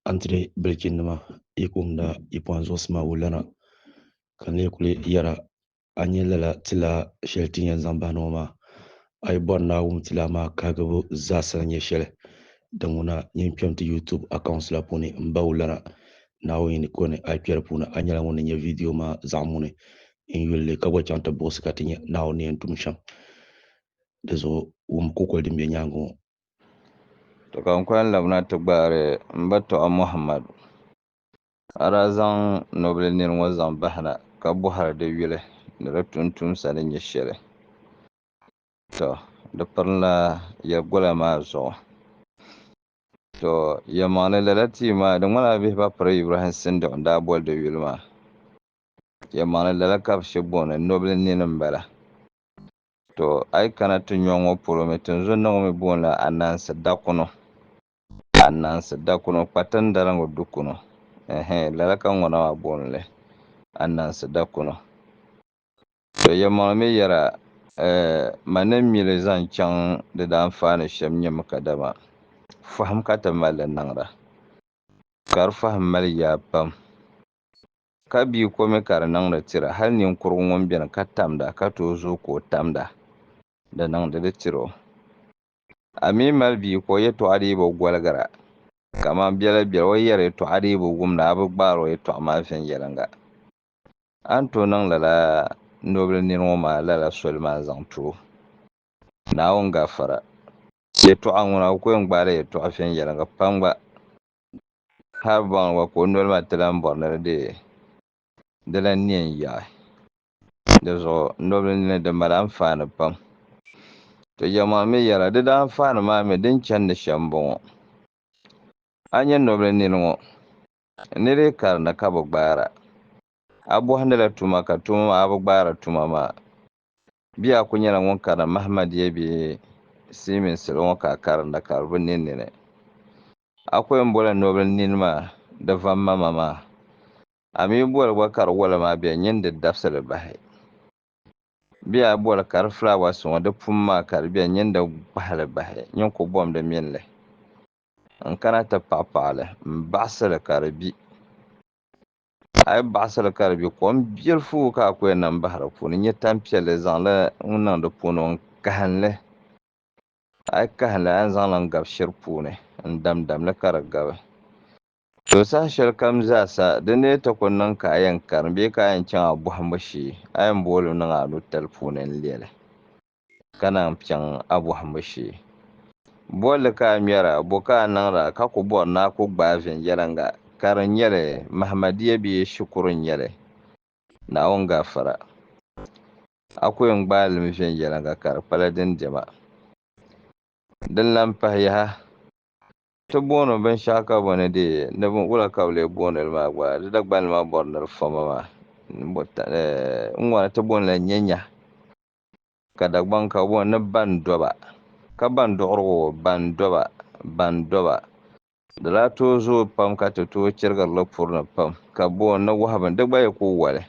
Antire bilichinnima yi kumda yipuɣin zuɣusi maa wulana ka n lee kuli yɛra a ni nyɛ lala tilaa shɛli ti ni yɛn zaŋ bahina ŋɔ maa a yi bɔri ni a wum tilaa maa kahigibu zaasa ni nyɛ shɛli din ŋuna nyin kpɛm ti YouTube accounts la puuni m ba wulana Naawuni ni kɔni a yi kpɛri puuni a nyɛla ŋun ni nya vidio maa zaɣ muni n yuli li ka gba chaŋ ti buɣisi ka ti nya Naawuni ni yɛn tum shɛm di zuɣu wum kukoli din be nyaaŋa ŋɔ. To ka n kɔŋ labina ti gbaari m ba tɔɣu Muhammadu. A daa zaŋ nobili nir ŋɔ zaŋ bahi na, ka bɔhiri di yuli ni di tuuntumsa ni nyɛ shɛli. Tɔ! Di pirinla yɛlgola maa zuɣu. Tɔ! Yɛlimaŋli, lala tia maa, di ŋmanila bihiba piri Ibrahim Sindiq n-daa boli di yuli maa. Yɛlimaŋli lala ka bɛ shɛ booni nobili nini m-bala. Tɔ! A yi kana ti nyɔŋ ŋɔ polo mi, tinzun ni ŋɔ mi boonila Anansi Dakuno. Anansi Dakuno, Kpatindaliŋgu Dukuno. Ɛhɛ! Lala ka ŋuna maa booni li, Anansi Dakuno. Tɔ! Yɛlimaŋli mi yɛra, Ɛɛ! Ma ni mi li zaŋ chaŋ di daanfaani shɛm nyɛ mi kadama fahim ka ti mali li niŋda. Ka di fahim mali yaa pam. Ka bia ko mi ka di niŋdi tira, hal ninkurugu ŋun beni ka tamda ka tooi zooi ka o tamda, di niŋdi di tira o. A mi mali bia ka o yɛtɔɣa dii bi goligira, kaman biɛla biɛla o yɛri yɛtɔɣa dii bi wumda, a bi gbaari o yɛtɔɣa maa viɛnyɛliŋga. A ni tooi niŋ lala nobili nini ŋɔ maa lala soli maa zaŋ ti o, Naawuni gafara. Yɛtɔɣa ŋuna, o ku yɛn gbaala yɛtɔɣa viɛnyɛliŋga pam gba. Hal bɔŋ gba ka o noli maa ti lan bɔri ni di deei di lan ne n-yaɣi. Di zuɣu nobili nini di mali anfaani pam. To jɛmɔɣu mi yɛla di daa anfaani maa mi din chandi shɛm m-bɔŋɔ. A nya nobili nini ŋɔ, ni di karini ka bi gbaara. A bɔhindila tuma ka tuma maa a bi gbaari tuma maa Bɛ yaa kuli nyɛla ŋun karinda Mahamadia bɛ Silimiin salo ŋɔ ka a karinda ka di bi ne nini. A kuli ni boli nobili nini maa di vam ma ma maa. A mi boli gba ka di wala maa bɛ nyini di dabisi li bahi. Bɛ yaa boli ka di flowers ŋɔ di pum maa ka di bɛ nyini di kpahi li bahi nyini ku bom di mini li n kana ti paɣi paɣi li m baɣisi li ka di bi. a yi baɣasiri ka di bɛ kom biɛlifu ka a ku yɛn nam bahi di puuni nyɛ tanpiɛlli zaŋli n niŋ di puuni n kahinli a yi kahinli a yɛn zaŋli n gabi shiri puuni n damdamli ka di gabi to saha shɛli kam zaa sa di ni ti ku niŋ ka a yɛn karim bee ka a yɛn chaŋ a bɔhimbu shee a yɛn booli niŋ a nutali puuni n lɛli ka naan piɛŋ a bɔhimbu shee. Bolli ka a ŋmɛra, bɔ ka a niŋra ka ku bɔri ni a ku gbaai viɛnyɛliŋga, ka di nyɛ li Mahmadiya bee shikuru n-nyɛ li? Naawuni gafara. A ku yɛn gbaai limi viɛnyɛliŋga ka di kpala din dɛma. Din lan pahi yaha, ti booni o binshɛɣu ka bɔ ni deei ni bin wula ka bɛ lee booni li maa gba, di Dagbanli maa bɔri ni di fɔma maa. N ŋɔ na ti booni la nyɛnyahi. Ka Dagbaŋ ka bɔ ni ban do ba, ka ban duɣiri o, ban do ba, ban do ba. Di daa tooi zooi pam ka ti tooi chirigiri li puri ni pam, ka bɔ ni wahu bini, di gba yi ku wali,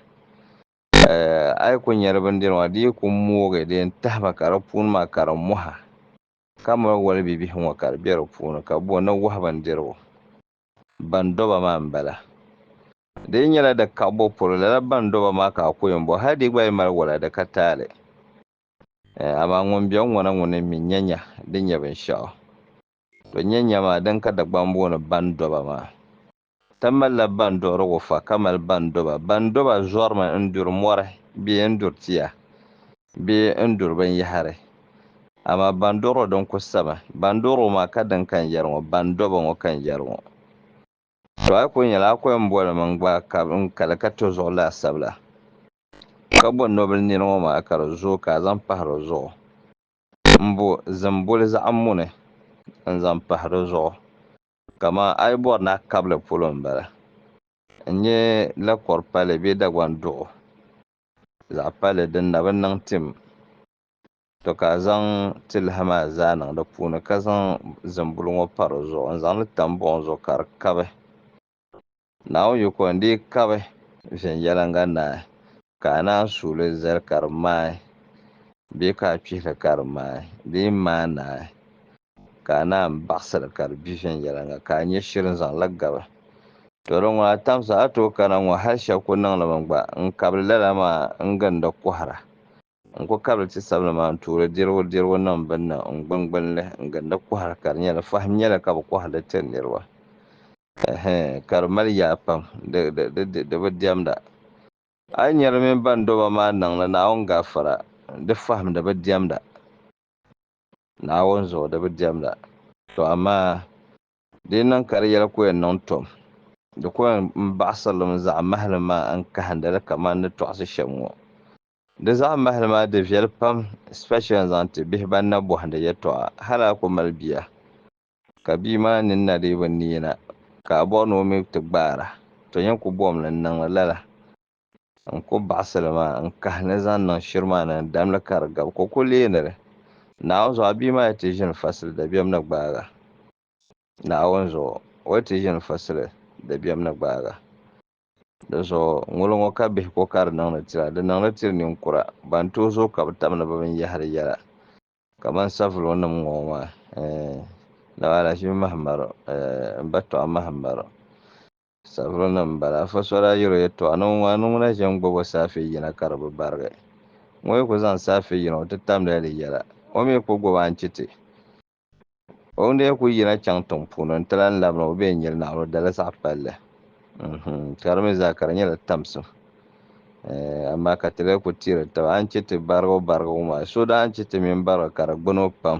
eh, a yi ku nyari bindiri maa, di yi ku moogi di yɛn tahi ba ka di puuni maa ka di mɔha, ka mali wali bibihi ŋɔ ka di be di puuni, ka bɔ ni wahu bindirigu. Ban dɔba maa m-bala. Di yi nyɛla di kaɣibo polo, lala ban dɔba maa ka a ku yɛn bɔ, hal di yi gba yi mali wala di ka taali. Ɛɛ, amaa ŋun be n-ŋɔna ŋɔ ni mi nya nya di nyɛ binshɛɣu. To nya nya maa, din ka Dagbaŋ booni ban dɔba maa. Ti malila ban duɣirigu fa ka mali ban dɔba. Ban dɔba zɔrimi n-duri mɔri bee n-duri tia. Bɛ ni duri binyɛhiri. Amaa ban dɔr o din ku sami. Ban dɔr o maa ka din ka n yɛri ŋɔ, ban dɔb o ŋɔ ka n yɛri ŋɔ. To a yi kul nyɛla a kɔya m-boli ma n-gba ka n kali ka to zuɣu laasabu la, ka bo nɔbil nir ŋɔ maa ka di zooi ka a zaŋ pahi di zuɣu. M bo zimboli zaɣ muni n-zaŋ pahi di zuɣu, kaman a yi bɔri ni a kab li polo m-bala, n-nyɛ lakɔr pali bee Dagbaŋ duɣu. Zaɣ pali din na bi niŋ tim, to ka a zaŋ tilihi maa zaa niŋ di puuni ka zaŋ zimbuli ŋɔ pa di zuɣu n-zaŋ li tam buɣim zuɣu ka di kabi. Naawuni yiko n-dii kabi viɛnyɛliŋga naai, ka a naan suui li zali ka di maai bee ka a kpihi li ka di maai bee maai naai. ka a naan baɣisiri ka di gbi viɛnyɛliŋga ka a nya shiri n-zaŋ la gabi. Tɔ di ŋɔ a tamsa a tooi kana ŋɔ hal shɛb ku niŋli mi gba. N kabili lala maa n-gindi kɔhira. N ku kabili ti sabili maa n-tuuri dirigu dirigu niŋ bini ni n gbingbini li n-gindi kɔhira ka di nyɛ di fahim nyɛla ka bɛ kɔhiri li tiri niriba. Ɛhɛn, ka di mali yaa pam, di, di, di, di, di bi diɛmda. A yi nya di mini bandɔba maa niŋ ni Naawuni gafara, di fahim di bi diɛmda. Naawuni zuɣu di bi diɛmda. Tɔ amaa di niŋ ka di yɛli ku yɛn niŋ tom, di ku yɛn n baɣisirlim zaɣ mahili maa n kahinda li kaman ni tɔɣisi shɛm ŋɔ. Di zaɣ mahili maa di viɛli pam especially n zaŋ ti bihi ban na bɔhindi yɛtɔɣa hal a ku mali bia ka bia maa nini na dii bi neei na ka a bɔri ni o mi ti gbaara, tɔ yɛn ku bɔhim li n niŋ li lala. N ku baɣisi li maa n-kahi ni zaŋ niŋ shiri maa ni n damli ka di gabi, ka o ku leeni li Naawuni zuɣu, a bia maa yi ti ʒini fasili dabiɛm ni gbaag a Naawuni zuɣu, o yi ti ʒini fasili dabiɛm ni gbaag a. Dinzuɣu ŋuli ŋɔ ka bihiko ka di niŋdi ti la, di niŋli tiri ninkura ban tooi zooi ka bɛ tam ni bɛ binyɛhiri yɛla, kamani savilunima ŋɔ maa, eh, Naba Alahajimi Mahimaro, eh, M ba Tɔɣu Mahimaro. Sabiri ni m-bala. Afa so daa yiri o yɛtɔɣa ni o ŋɔ, a ni ŋuna ʒe n-gbubi o saafee yina ka di bi barigi. Ŋɔ yi ku zaŋ saafee yina o ti tamdila di yɛla, o mi ku gbubi a n-chiti o ŋun daa ku yina chaŋ tiŋ puuni nti lan labi ni o be n-nyili naɣila o dali zaɣ palli. Uhum! Ka di mi zaa ka di nyɛla tamsim. Eh, amaa ka ti lee ku tiiri taba a n-chiti barigibu barigibu maa, so daa n-chiti mini barigi ka di gbuni o pam.